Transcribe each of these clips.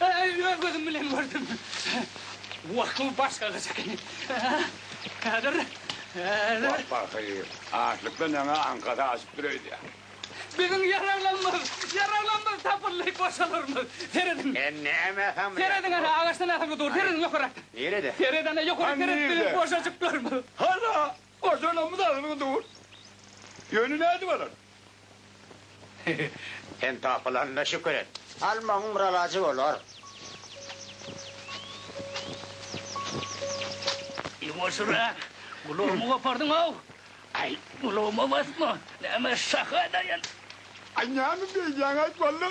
Äý, öz gözüm bilen gördüm. Wakyl başga gyz ekeni. Häzir, häzir. Wah, pahyr, açlykdan ýaňa aňkasy aşyp dur öýdýä. Biziň ýaraglanymyz, ýaraglanymyz tapyldy, goşalarymyz. Serediň. Sen näme samrýaň? Serediň, ana, agaçdan asylgy dur, serediň ýokarakdan. Nirede? Sered, ana, ýokaryk seret, biziň goşajyklarymyz. Hala, Gojalamyz agzybir dur. Ýöne nädip alar? Sen tapylanyna şükür et. Almagyň bir alajy bolar. Ýuwaşyra, gulagymy gopardyň-ow! Aý, gulagyma basma, näme şaha daýan. Aý, näme beýdýäň-aý, walla?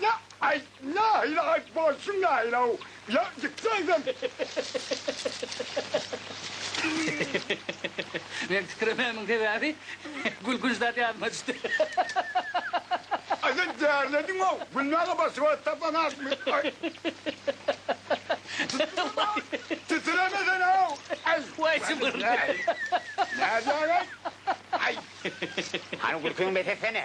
La ay la ila ay bolsun la ila u ya gitseydin. Meň tükremämiň sebäbi gülkünç zat ýadyma düşdi. Aýda därlediň ow gülmäge başga tapan akmy ay. Titireme sen ow ay. Way jybyryny. Nädýäň ay. Ay. Hany gülkiň bes etsene.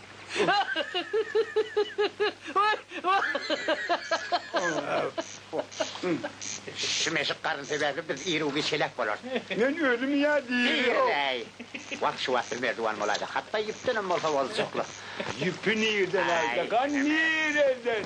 Şu meşik garyn sebäpli biz ir-u-giç heläk bolarys. Men özüm ýa diýýär. Wah, şu wagt biz merduwan bolaýsak, hatda ýüpdenem bolsa boljaklyk. Ýüpi nirden aljak, a nireden?